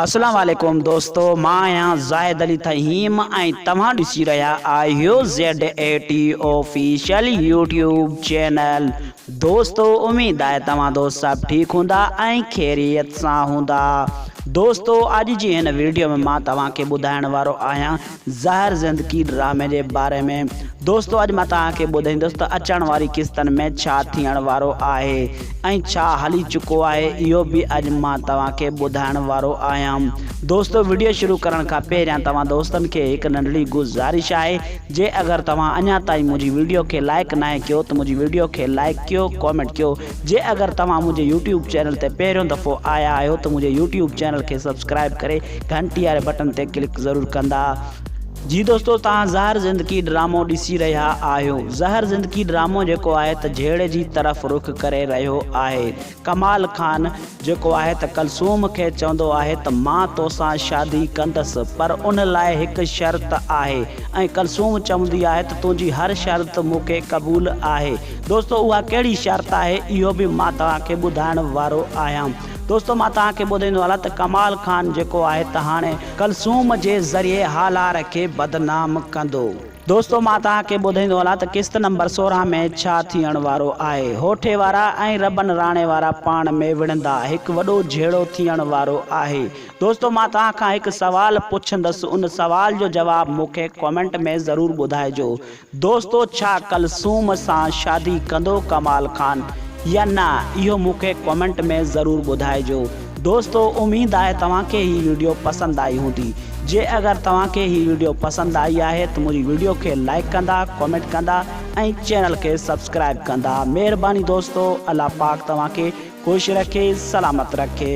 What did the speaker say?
اسلام عليڪم دوستو مان آهيان زاهد علي تهيم ۽ توهان ڏسي رهيا آهيو Z A T official YouTube channel دوستو اميد آهي توهان دوست سڀ ٺيڪ هوندا ۽ خيريت سان هوندا دوستو اڄ جي هن ويڊيو ۾ مان توهان کي ٻڌائڻ وارو آهيان زهر زندگي ڊرامي جي باري ۾ دوستو اڄ مان توهان کي ٻڌائيندس ته اچڻ واري قسطن ۾ ڇا ٿيڻ وارو آهي ۽ ڇا هلي چڪو آهي اهو به اڄ مان توهان کي ٻڌائڻ وارو آهيان دوستو وڊيو شروع ڪرڻ کان پهريان توهان دوستن کي هڪ ننڍڙي گذارش آهي جي اگر توهان اڃا تائين منهنجي وڊيو کي لائڪ ناهي ڪيو ته منهنجي وڊيو کي لائڪ ڪيو ڪامينٽ ڪيو جي اگر توهان منهنجي يوٽيوب چينل تي پهريون دفعو آيا آهيو ته منهنجي يوٽيوب چينل کي سبسڪرائب ڪري گهنٽي واري بٽن تي ڪلڪ ضرور ڪندا. جي دوستو توهان زهر زندگي ڊرامو ڏسي رهيا آهيو زهر زندگي ڊرامو جيڪو آهي ته جهيڙي جي طرف رخ ڪري رهيو آهي ڪمال خان. جيڪو آهي ته ڪلثوم کي چوندو آهي ته مان توسان شادي ڪندس پر ان لاء هڪ شرط آهي ۽ ڪلثوم چوندي آهي ته تنهنجي هر شرط مون کي قبول آهي دوستو اها ڪهڙي شرط آهي اهو به مان توهان کي ٻڌائڻ وارو آهيان دوستو مان توهان کي ٻڌائيندو هلان ته ڪمال خان جيڪو آهي ته هاڻي ڪلثوم جي ذريعي هالار کي بدنام ڪندو. دوستو مان توهان کي ٻڌائيندو هلان ته قسط نمبر سورهن ۾ ڇا ٿيڻ وارو آهي. هوٺي وارا ۽ ربن راڻي وارا پاڻ ۾ وڙهندا. هڪ وڏو جهيڙو ٿيڻ وارو آهي. دوستو مان توهان کان هڪ سوال پڇندس ان سوال جو جواب مون کي ڪمينٽ ۾ ضرور ٻڌائجو. دوستو ڇا ڪلثوم سان شادي ڪندو ڪمال خان يا نه اهو مون کي ڪمينٽ ۾ ضرور ٻڌائجو. دوستو اميد آهي توهان کي هي ويڊيو پسند آئي هوندي جي اگر توهان کي هي ويڊيو پسند آئي آهي ته منهنجي ويڊيو کي لائڪ ڪندا ڪمينٽ ڪندا ۽ چينل کي سبسڪرائب ڪندا مهرباني دوستو الله پاڪ توهان کي خوش رکي سلامت رکي.